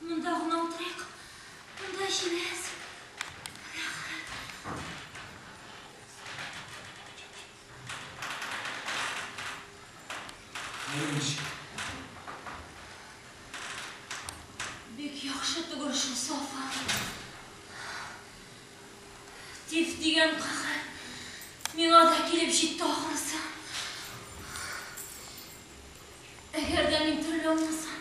Монда гына утырыйк. Монда җиләс. Бик яхшы түгел шул Сафа. Тиф дигән кахәт. Миңа да килеп җитте ахрысы. Әгәр дә мин терелә алмасам,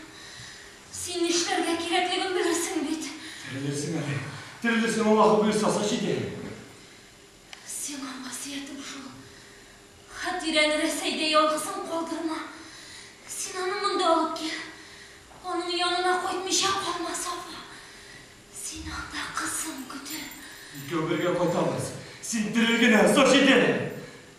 син нишләргә кирәклеген белерсең бит. Терелерсең әле. Терелерсең, Аллаһы боерсасы җиде. Сиңа васыятем шул. Хәтирәне Рәсәйдә ялгызын калдырма. Син аны монда алып кил. Аның янына кайтмыйча калма, Сафа. Син анда кызың көтә. Икәү бергә кайтабыз. Син терел генә, Саҗидә!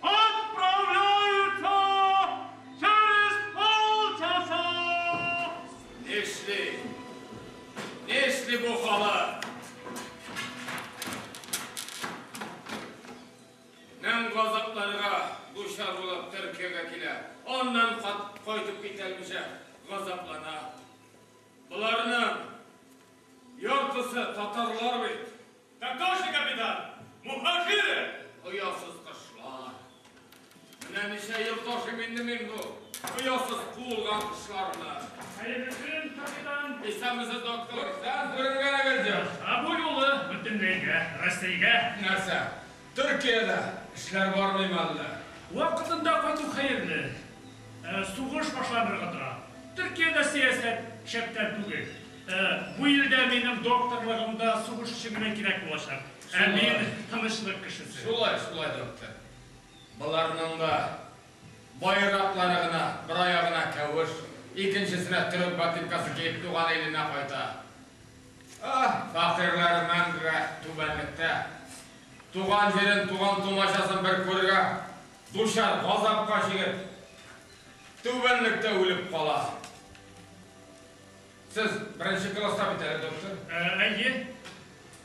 Отправляются через полчаса! Нишли? Нишли бу халык? Мең газапларга дучар булып Төркиягә килә, аннан кайтып китә алмыйча газаплана. Боларның яртысы татарлар бит. Татарча капитан! Мухажиры! Оясыз кошлар! Менә ничә ел ташыйм инде мин бу оясыз куылган кошларны. Хәерле көн, капитан! Исәнмесез, доктор! Сез күренгәнегез юк. Ә бу юлы бөтенләйгә, Рәсәйгә. Нәрсә? Төркиядә эшләр бармыймы әллә? Вакытында кайту хәерле. Сугыш башланырга тора. Төркиядә сәясәт шәптән түгел. Бу илдә минем докторлыгым да сугышчы гына кирәк булачак. Ә мин, тынычлык кешесе. Шулай, шулай, доктор. Боларның да байраклары гына, бер аягына кәвеш, икенчесенә төрек ботинкасы киеп туган иленә кайта. Фәкыйрьләреннән генә түбәнлектә. Туган җирен, туган-тумачасын бер күрергә дучар, газапка җигеп, түбәнлектә үлеп кала. Сез беренче класста бит әле, доктор? Әйе.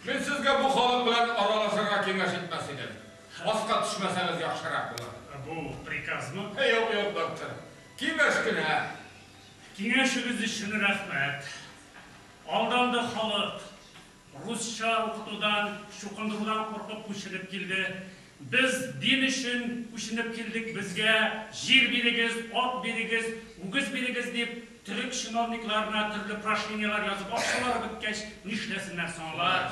Мин сезгә бу халык белән аралашырга киңәш итмәс идем. Аска төшмәсәгез яхшырак булыр. Бу приказмы? Юк, юк, доктор. Киңәш кенә. Киңәшегез өчен рәхмәт. Алдалды халык. Русча укытудан, чукындырудан куркып күченеп килде. Без дин өчен күченеп килдек, безгә җир бирегез, ат бирегез, үгез бирегез дип, төрек чиновникларына төрле прошениеләр язып, акчалары беткәч, нишләсеннәр соң алар?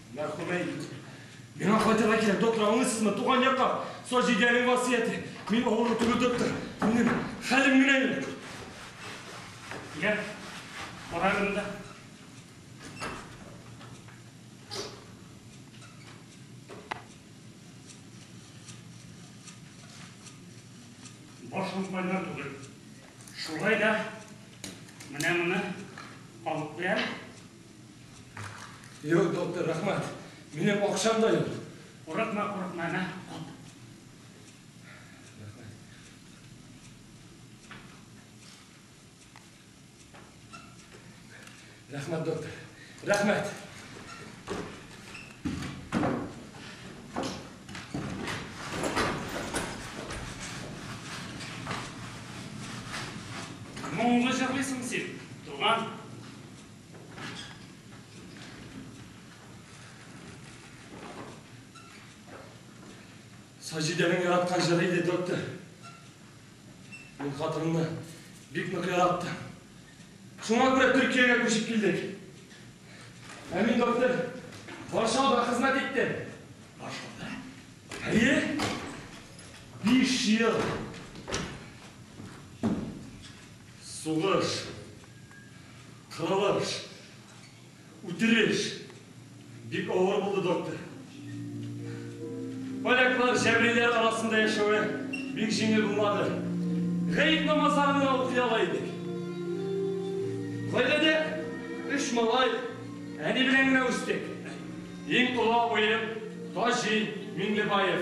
Мәрхүмә инде. Миңа кайтырга кирәк, доктор, аңлыйсызмы? Туган якка. Саҗидәнең васыяте. Мин авыру түгел, доктор. Минем хәлем генә юк. Йә, бар әле монда. Башым кайнар түгел. Шулай да менә моны алып бирәм. Юк, доктор, рәхмәт. Минем акчам да юк. Курыкма, курыкма, әнә, кат. Рәхмәт, доктор. Рәхмәт. Моңлы җырлыйсың син, туган. Саҗидәнең яраткан җыры иде, доктор. Мин хатынымны бик нык яраттым. Шуңа күрә Төркиягә күчеп килдек. Ә мин, доктор, Варшавада хезмәт иттем. Варшавада? Әйе. Биш ел. Сугыш. Кырылыш, үтереш бик авыр булды, доктор. Поляклар җәбриләр арасында яшәве бик җиңел булмады. Гает намазларын гына укый ала идек. Гаиләдә өч малай, әни белән генә үстек. Иң олы абыем Таҗи Миңлебаев.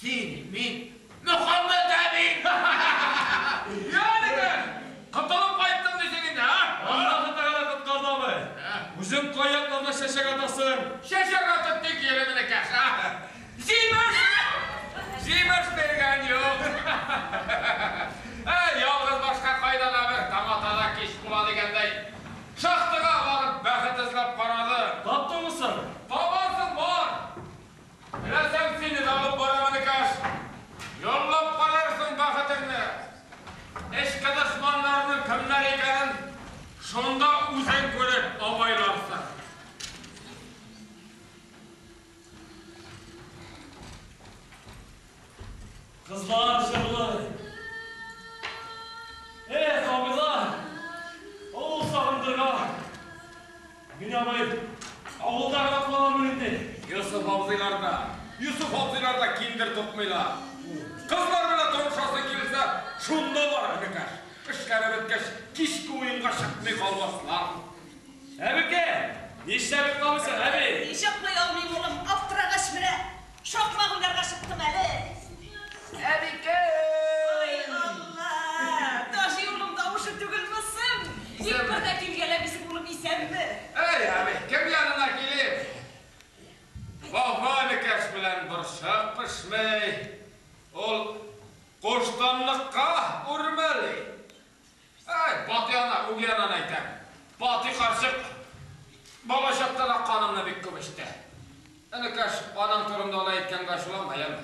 Син, мин, Мөхәммәт әби! Йә, дигән, котылып кайттың дисең инде, ә? Аллаһы Тәгалә коткарды, абый. Үзең кай якларда чәчәк атасың? Чәчәк атып тик йөремени, Кәшә. Җимеш! Җимеш биргән юк. Ә ялгыз башка кайда да бер таң ата да кич була дигәндәй, шахтага барып бәхет эзләп карадым. Таптыңмы соң? Табарсың, бар! Рәсәм сине дә алып бара мөнекәш! Йонлап карарсың бәхетеңне! Эчке дошманнарның кемнәр икәнен шунда үзең күреп абайларсың. Кызлар җырлый. Эх, абыйлар, авыл сагындырган. Мин абый, авылда калалармын инде. Йосыф абзыйлар да, Йосыф абзыйлар да киндер тотмыйлар. Кызлар белән танышасың килсә, шунда бар, энекәш. Эшләре беткәч, кичке уенга чыкмый калмаслар. Әбекәй, нишләп йокламыйсың, әби? Ник йоклый алмыйм, улым, аптырагач менә. Шакмак уйнарга чыктым әле. Әбикәй! Ай, Алла! Таҗи улым тавышы түгелме соң? Тик бер дә килгәләмисең, улым, исәнме? Әй, әби, кем янына килим? Вафа әбекәш белән борчак пешмәй, ул куштанлыкка үрмәли. Әй, Бати ана, үги ананы әйтәм. Бати карчык балачактан ук канымны бик күп эчте. Энекәш, аның турында алай әйткәнгә ачуланма, яме.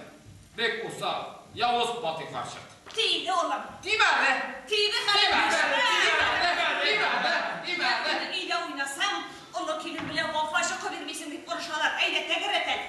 Бик усал, явыз Бати карчык. Тиде, улым. Тиме әле! Тиде, кардәш! Тиме әле! Тиме әле! Тиме әле! Әтине өйдә уйнасаң, олы килен белән Вафа чокы бирмисең, дип орышалар. Әйдә, тәгәрәт әле!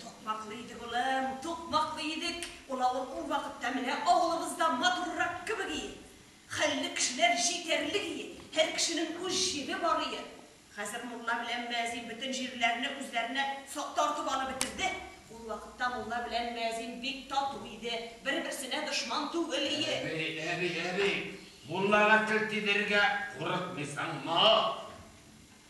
Тукмаклы идек, улым, тукмаклы идек. Ул авыл ул вакытта менә авылыбызда матуррак кебек ие. Хәлле кешеләр җитәрлек ие, һәр кешенең үз җире бар ие. Хәзер мулла белән мөәзин бөтен җирләрне үзләренә тартып алып бетерде. Ул вакытта мулла белән мөәзин бик тату иде, бер-берсенә дошман түгел ие. Әби, әби, әби, муллага тел тидерергә курыкмыйсыңмы?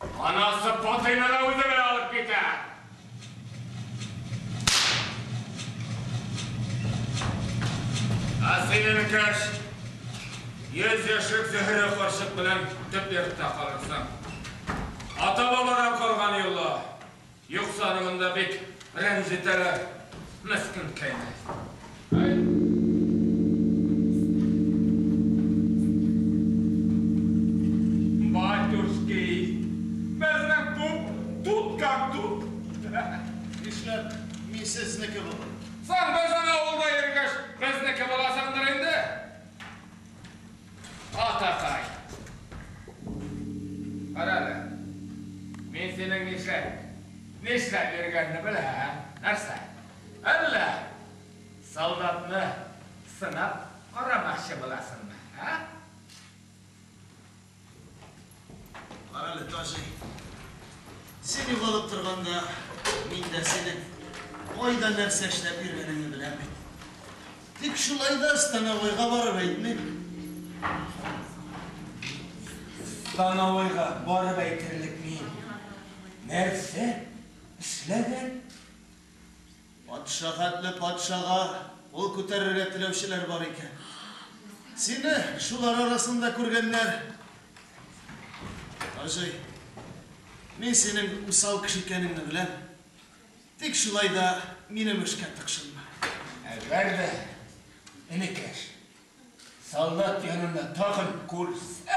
Анасы Патыйны да үзе белән алып китә. Ә син, энекәш, йөз яшьлек Зөһрә карчык белән төп йортта калырсың. Ата-бабадан калган йола. Юкса аны монда бик рәнҗетәләр, мескен кәйнәй. Батюшки, безнең күп тут как тут. Нишләп мин сезнеке булыйм? Соң безнең авылда йөргәч, безнеке буласыңдыр инде. Атакай! Кара әле, мин синең нишләп, нишләп йөргәнне беләм, ә? Нәрсә? Әллә солдатны сынап карамакчы буласыңмы, ә? Карале, Таҗи. Син югалып торганда, мин дә синең кайда нәрсә эшләп йөргәнеңне беләм бит. Тик шулай да становойга барып әйтмим. Становойга барып әйтерлек мин нәрсә эшләгән? Патша хәтле патшага кул күтәрергә теләүчеләр бар икән. Сине шулар арасында күргәннәр. Хаҗи, мин синең усал кеше икәнеңне беләм. Тик шулай да минем эшкә тыкшынма. Әгәр дә, энекәш, солдат янына тагын күрсәм,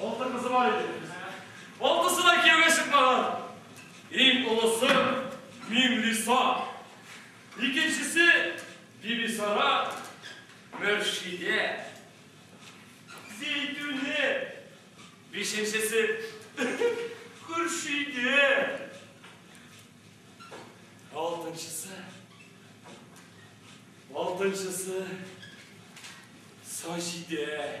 Алты кызы бар иде. Алтысы да кияүгә чыкмаган. Иң олысы Миңлиса. Икенчесе Бибисара, Мөршидә. Зәйтүнә. Бишенчесе Хөршидә. Алтынчысы. Алтынчысы Саҗидә.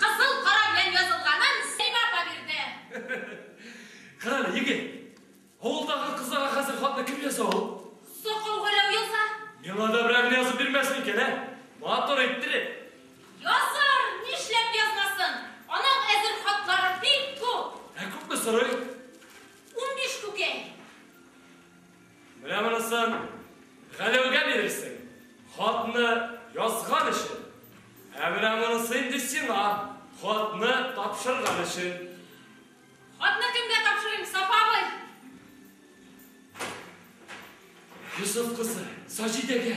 Кызыл кара белән язылганын Сәймә апа бирде. Карале, егет, авылдагы кызларга хәзер хатны кем яза ул? Сакау Галәү яза. Миңа да берәрне язып бирмәс микән, ә? Матур иттереп. Язар, нишләп язмасын. Аның әзер хатлары бик күп. Ә күпме сорый? Унбиш күкәй. Менә монысын Галәүгә бирерсең, хатны язган өчен. Ә менә монысы инде сиңа, хатны тапшырган өчен. Хатны кемгә тапшырыйм, Сафа абый? Йосыф кызы, Саҗидәгә.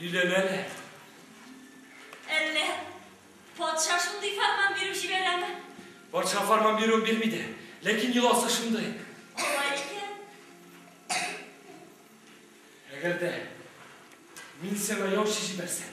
Өйләнәләр. Әллә патша шундый фәрман биреп җибәрәме? Патша фәрман бирүен бирми дә, ләкин йоласы шундый. Алай икән. Әгәр дә мин сиңа яучы җибәрсәм,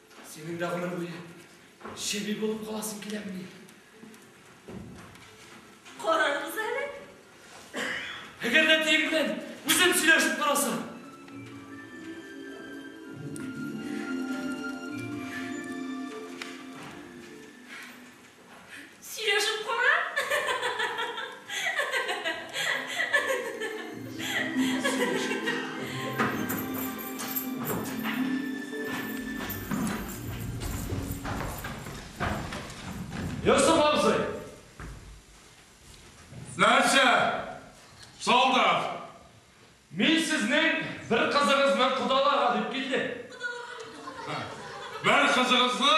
Синең дә гомер буе чеби булып каласың киләмени? Карарбыз әле. Әгәр дә тиең белән үзем сөйләшеп карасам. Сөйләшеп кара. Йосыф абзый! Нәрсә? Солдат! Мин сезнең бер кызыгызны кодаларга дип килдем. Бер кызыгызны?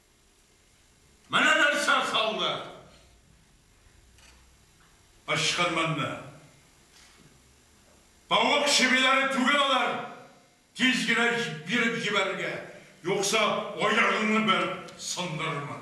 Менә нәрсә салды! Ычкынмыйны. Тавык чебиләре түгел алар, тиз генә биреп җибәрергә, юкса аягыңны бәреп сындырырмын.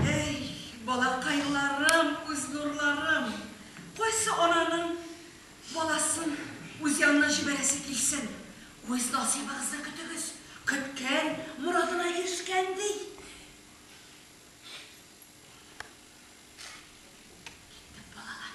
Әй, балакайларым, күз нурларым! Кайсы ананың баласын үз янына җибәрәсе килсен? Үз насыйбыгызны көтегез! Көткән, морадына ирешкән, ди. Киттек, балалар.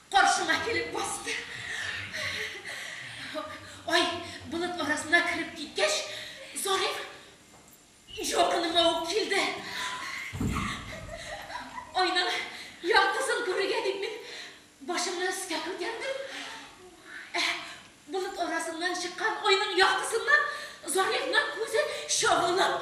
Каршыма килеп басты. Ай, болыт арасына кереп киткәч, Зариф якыныма ук килде. Айның яктысын күрергә дип мин башымны өскә күтәрдем. Ә болыт арасыннан чыккан айның яктысыннан Зарифның күзе чагылып.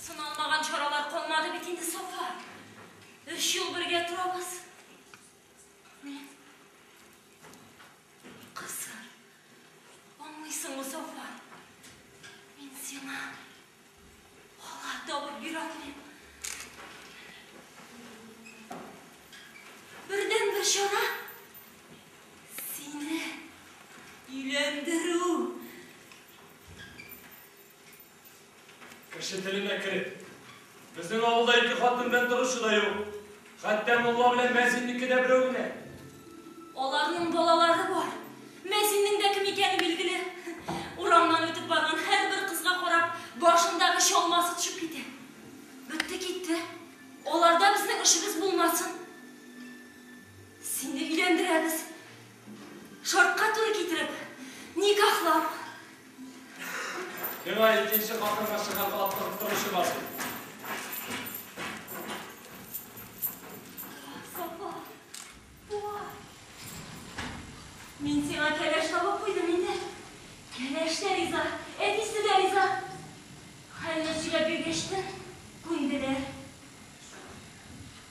Сыналмаган чаралар калмады бит инде, Сафа. Өч ел бергә торабыз. Мин... Кызым, аңлыйсыңмы, Сафа? Мин сиңа... Ала табып бирә алмыйм. Бердән бер чара... Сине... Өйләндерү... Кеше теленә кереп. Безнең авылда ике хатын белән торучы да юк. Хәтта мулла белән мәзиннеке дә берәү генә. Аларның балалары бар. Мәзиннең дә кем икәне билгеле. Урамнан үтеп барган һәрбер кызга карап, башындагы чалмасы төшеп китә. Бетте китте. Аларда безнең эшебез булмасын. Сине өйләндерәбез. Шартка туры китереп никахлау. Миңа икенче хатынга чыгарга аптырып торучы бар бит. Сафа, туа. Мин сиңа кәләш табып куйдым инде. Кәләш тә риза, әтисе дә риза. Хәлне сөйләп биргәч тә күнделәр.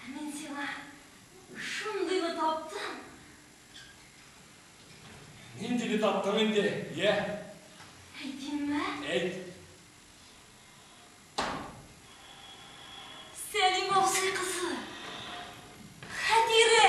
Ә мин сиңа шундыйны таптым. Ниндине таптың инде, йә? Әйтимме? Әйт. Сәлим абзый кызы. Хәтирә!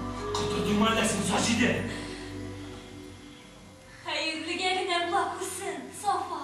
Каты димай да син, Саҗидә! Хәерлегә генә була күрсен, Сафа!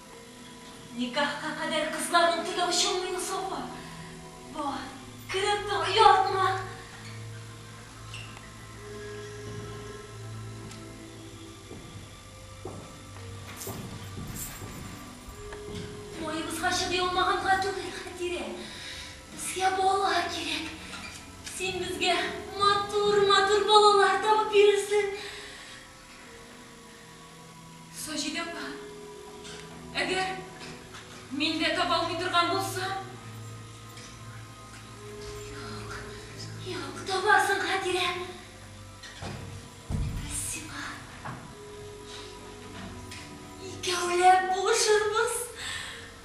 Никахка кадәр кызларның тиге очынмыймы соң бу? Бар, кереп тор, оялтма! Муеныбызга чыдый алмаганга түгел, Хәтирә. Безгә бала кирәк. Син безгә матур-матур балалар табып бирерсең. Саҗидә апа, әгәр мин дә таба алмый торган булсам? Юк, юк, табарсың, Хәтирә. Без сиңа икәүләп булышырбыз.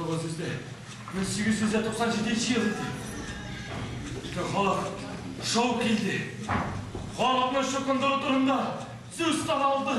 Тугыз йөздә, мең сигез йөз дә туксан җиденче ел иде. Бөтен халык шау килде. Халыкны чукындыру турында сүз таралды.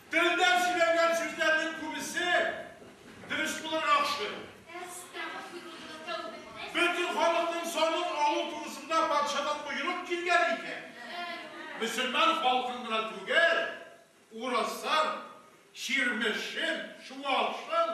Телдә сөйләнгән сүзләрнең күбесе дөрес булырга охшый. Бөтен халыкның санын алу турысында патшадан боерык килгән икән. Мөселман халкын гына түгел, урысын, чирмешен, чуашын,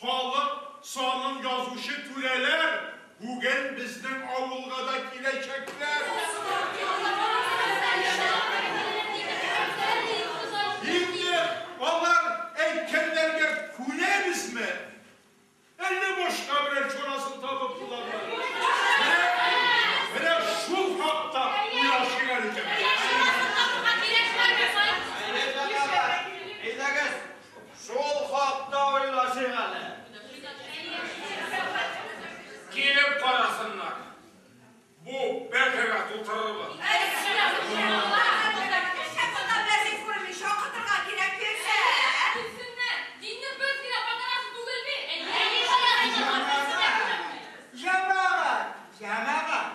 Халык санын язучы түрәләр бүген безнең авылга да киләчәкләр. Инде алар әйткәннәргә күнәбезме? Әллә башка берәр чарасын табып булабы? Менә шул хакта уйлашыйк әле, җәмәгать. Әйе, татарлар, әйдәгез! Шул хакта уйлашыйк әле. Килеп карасыннар. Бу бәхергә тутырырбыз. Җәмәгать! Җәмәгать!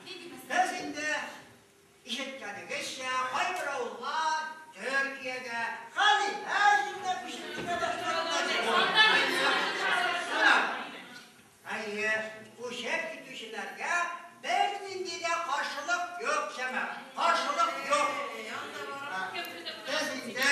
Без инде ишеткәнегезчә, кайбер авыллар Төркиягә, Халифә җиренә күчеп китә башладылар бит ул. Әйе, күчеп китүчеләргә бернинди дә каршылык юк, чамам. Каршылык юк. Без инде